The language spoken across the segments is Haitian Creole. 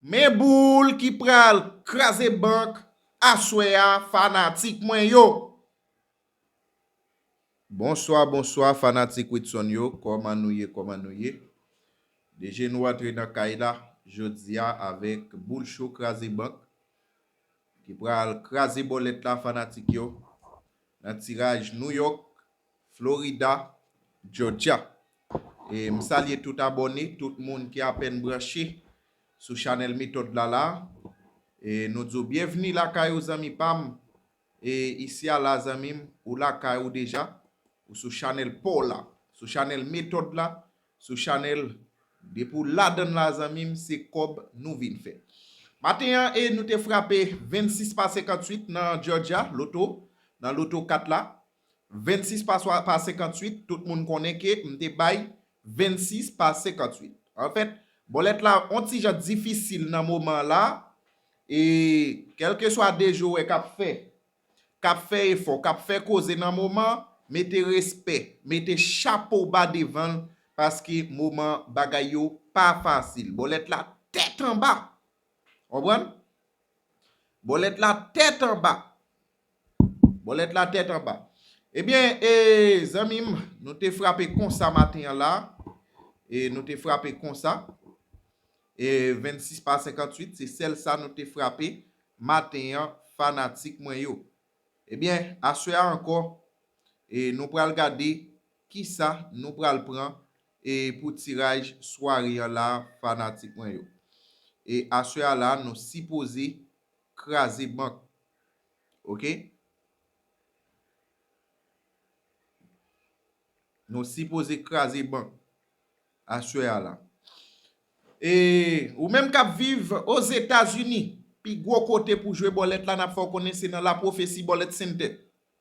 Men boul ki pral kraze bank aswè a fanatik mwen yo. Bonswa bonswa fanatik Widson yo kòman nou ye kòman nou ye deje nou antre nan kay la jodia avèk boul cho kraze bank ki pral kraze bòlèt la fanatik yo nan tiraj New York Florida, Georgia. E m salye tout abòne, tout moun ki apèn branche sou chanèl Metòd la la. E nou di w byenvni lakay ou zanmi pa m. E isi a la zanmi m, ou lakay ou deja, ou sou chanèl pa w la, sou chanèl Metòd la, sou chanèl Depi w ladan l la zanmi m, se kòb nou vin fè. Maten an e nou te frape 26 pa 58 nan Georgia, loto, nan loto kat la. 26 pa 58, tout moun konnen ke m te bay 26 pa 58. An fèt, bòlèt la on ti jan difisil nan moman la, e kèlkeswa de jowè k ap fè, k ap fè efò, k ap fè koze nan moman, mete respè, mete chapo ba devan l, paske moman bagay yo pa fasil. Bòlèt la tèt anba! Konprann? Bòlèt la tèt anba! Bòlèt la tèt anba. Ebyen e zanmi m nou te frape konsa maten an la e nou te frape konsa e 26 pa 58 se sèl sa nou te frape maten an fanatik mwen yo. Ebyen aswè a ankò e nou pral gade kisa nou pral pran e pou tiraj sware an la fanatik mwen yo. E aswè a la nou sipoze kraze bank ok nou si poze kraze bank aswè a la e ou menm kap viv ozetazini pi gwo kote pou jwe bòlèt la nap fè w konnen se nan la pwofesi bòlèt sente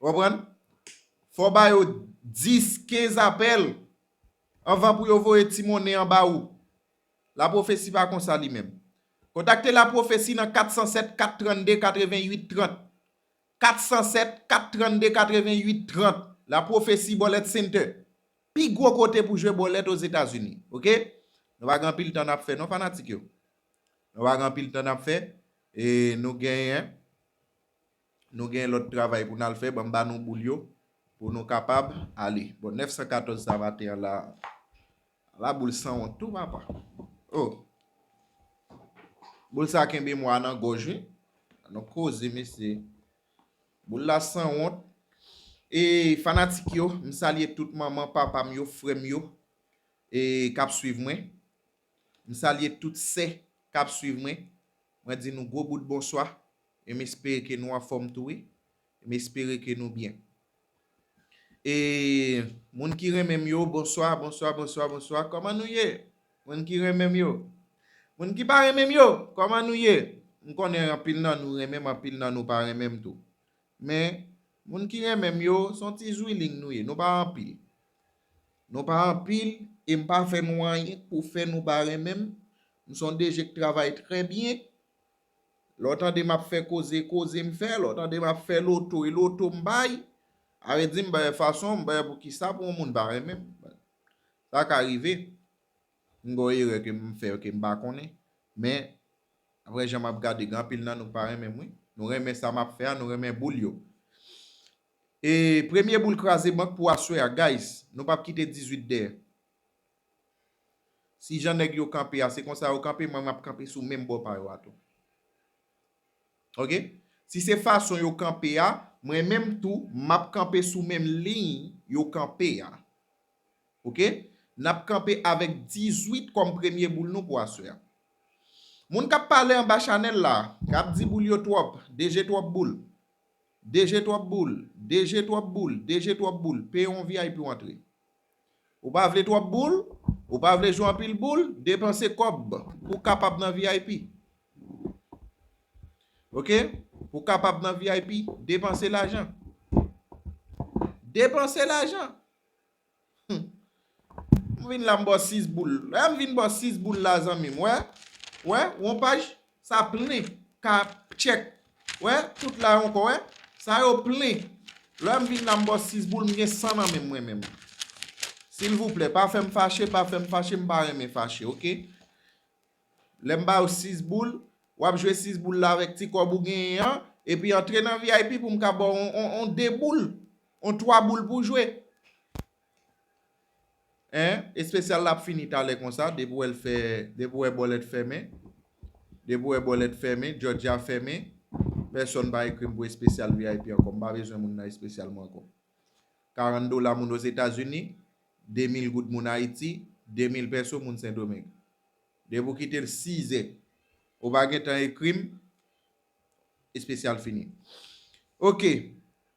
Ou konprann? Fò w ba yo 10, 15 apèl anvan pou yo voye ti monnen an ba ou. Lapwofesi pa kon sa li menm. Kontakte Lapwofesi nan 407 432 88 30. 407 432 88 30. Lapwofesi Bòlèt Center. Pi gwo kote pou jwe bòlèt Ozetazini. Ok? Nou pa gen anpil tan n ap fè non fanatik yo. Nou pa gen anpil tan n ap fè. E nou genyen. Nou gen lòt travay pou n al fè, ban m ba nou boul yo pou nou kapab ale. Bon, 914 sa maten an la, ala boul sanwont tou papa! O! Boul sa kenbe mwa nan gòj wi! An nou koze mesye! Boul la sanwont! E, fanatik yo, m salye tout manman, papa m yo, frè m yo, e, k ap swiv mwen. M salye tout sè k ap swiv mwen. Mwen di nou gwo bout bonswa. e m espere ke nou anfòm tou wi, e m espere ke nou byen. E moun ki renmen m yo, bonswa, bonswa, bonswa, bonswa, kòman nou ye? Moun ki renmen m yo. Moun ki pa renmen m yo, kòman nou ye? M konnen anpil nan nou renmen m, anpil nan nou pa renmen m tou. Men, moun ki renmen m yo, s on ti zwilling nou ye, nou pa anpil. Nou pa anpil, e m pa fè nou anyen pou fè nou pa renmen m. M s on DG k travay trè byen, Lè w tande m ap fè koze, e koze m fè, lè w tande m ap fè loto, e loto m bay. Are di m bay fason, m bay pou ki sa pou yon moun pa renmen m. Sa ka rive, m gen yon erè ke m fè ke m pa konnen. Men, apre jan m ap gade, gen anpil nan nou k pa renmen m wi. Nou renmen sa m ap fè a, nou renmen boul yo. E premye boul kraze bank pou aswè a guys, nou p ap kite 18 dèyè. Si jan nèg yo kanpe a se konsa yo kanpe mwen map kanpe sou menm bò pa yo a tou. Ok si se fason yo kanpe a mwen menm tou map kanpe sou menm liy yo kanpe a. Ok nap kanpe avèk 18 kòm premye boul nou pou aswè a. Moun kap pale anba chanèl la kap di boul yo twòp, DG twòp boul, DG twòp boul, DG twòp boul, DG twòp boul, peye yon vip ou antre. Ou pa vle twòp boul? Ou pa vle jwe anpil boul? Depanse kòb pou w kapab nan vip. Ok? Pou w kapab nan vip, depanse lajan. Depanse lajan! Humm. M vin la m ba w 6 boul. Lè m vin ba w 6 boul la zanmi m, wè? Wè? Wonpaj? Sa plen ka pcheck wè tout la yon kò wè sa yo plen lèm vin la m bò 6 boul m gen 100 nan menm mwen menm silvouplè pa fèm fache pa fèm fache m pa renmen fache ok lèm ba ou 6 boul wap jwe 6 boul la avèk ti kòb ou genyen an epi antre nan vip pou m ka ba w on 2 boul on 3 boul pou jwe. Hein espesyal la ap fini talè konsa depi w wè l fè depi w wè bòlèt fèmen depi w wè bòlèt fèmen jòjya fèmen pèsòn pa ekri m pou espesyal vip ankò m pa bezwen moun nan espesyal mwen ankò 40 dola moun ozetazini 2000 goud moun ayiti 2000 pèso moun sendomeng depi w kite l 6 zè ou pa gentan ekri m espesyal fini ok.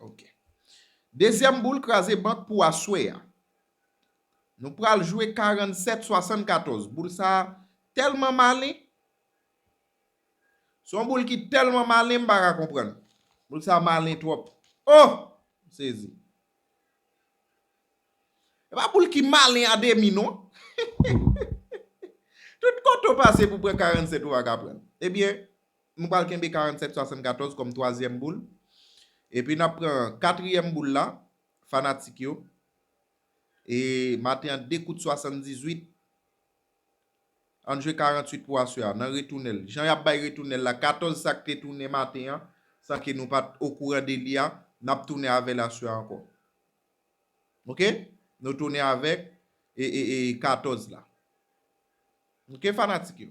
Ok. Dezyèm boul kraze bank pou aswè a. Nou pral jwe 47 74. Boul sa a tèlman malen. Son boul ki tèlman malen m pa ka konprann. Boul sa a malen twòp. Oh! M sezi. E pa boul ki malen a demi non. Tout kote ou pase pou pran 47 ou pa ka pran. Ebyen. Nou pral kenbe 47 74 kòm twazyèm boul. Epi n ap pran katriyèm boul la, fanatik yo. E maten an 2 kout 78. An n jwe 48 pou aswè a nan retounen l. Jan y ap bay retounen l la, 14 sa k te tounen maten an, san ke nou pa t okouran de li a, n ap tounen avè l aswè a ankò. Ok? Nou tounen avèk 14 la. Ok fanatik yo?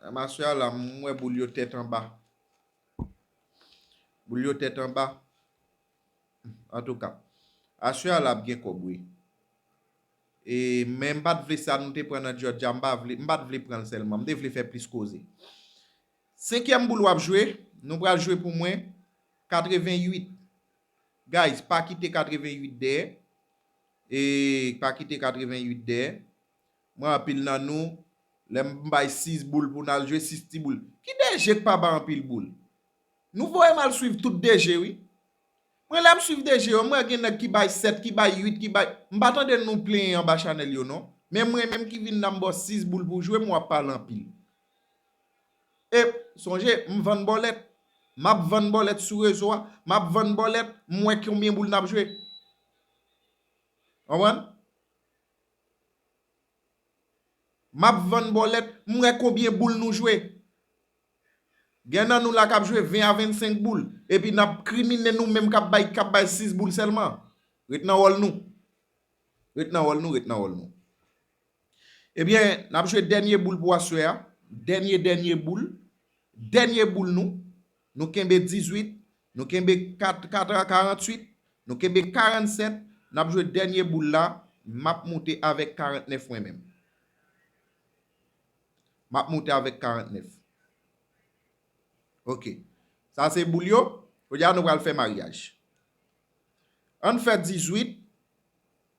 Ramasè a la m wè boul yo tèt anba. Boul yo tèt anba. An tou ka. Asè a la ap gen kòb wi. E men m pat vle sa nou te pran nan Jòdja m pa vle. M pat vle pran l sèlman. M te vle fè plis koze. Senkyèm boul w ap jwe. Nou pral jwe pou mwen. 88. Guys pa kite 88 dèyè eeyy pa kite 88 dèyè mwen anpil nan nou lèm bay 6 boul pou nal jwe 6 ti boul ki DG k pa bay anpil boul nou voyem al swiv tout DG wi mwen lèm swiv DG yo m wè gen nèg ki bay 7 ki bay 8 ki bay m pa tande nou plenyen anba chanèl yo non men mwen menm ki vin la m baw 6 boul pou jwem wap pale anpil Ep sonje m vann bòlèt Map vann bòlèt sou rezo a Map vann bòlèt m wè knbyen boul nap jwe Konprann Map vann bòlèt m wè konbyen boul nou jwe Gen nan nou la kap jwe 20 a 25 boul Epi nap kriminen nou menm kap bay kap bay 6 boul sèlman Ret nan wòl nou Ret nan wòl nou Ret nan wòl nou Ebyen, n ap jwe dènye boul pou aswè a, dènye dènye boul, dènye boul nou, nou kenbe 18, nou kenbe 4 4 a 48, nou kenbe 47, n ap jwe dènye boul la, m ap moute avèk 49 mwen menm. M ap moute avèk 49. Ok. Sa se boul yo, kounye a nou pral fè maryaj. An n fè 18.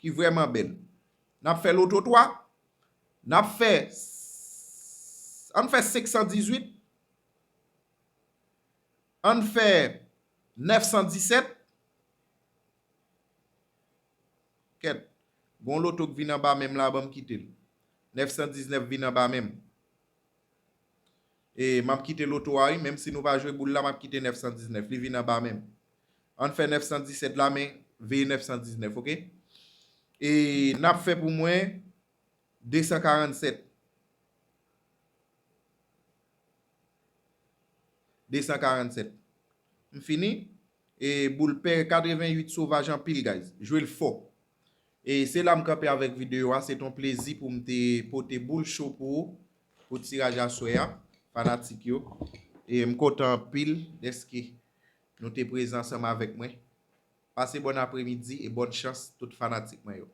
ki vrèman bèl. N ap fè loto 3. N ap fè, an n fè 518. An n fè 917. Kèt, gen yon loto k vin anba men m la, ban m kite l. 919 vin anba men m. Map kite loto a wi menm si nou pa jwe boul la map kite 919 li vin anba menm ann fè 917 la men veye 919 ok e nap fè pou mwen 247 247 m fini e boul pè 88 sovaj anpil guys jwe l fò e se la m kanpe avèk videyo a se t on plezi pou m te pote boul cho pou ou pou tiraj aswè a fanatik yo e m kontan anpil dèske nou te prezan ansanm avèk mwen pase bòn apremidi e bòn chans tout fanatik mwen yo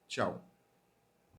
tchaww.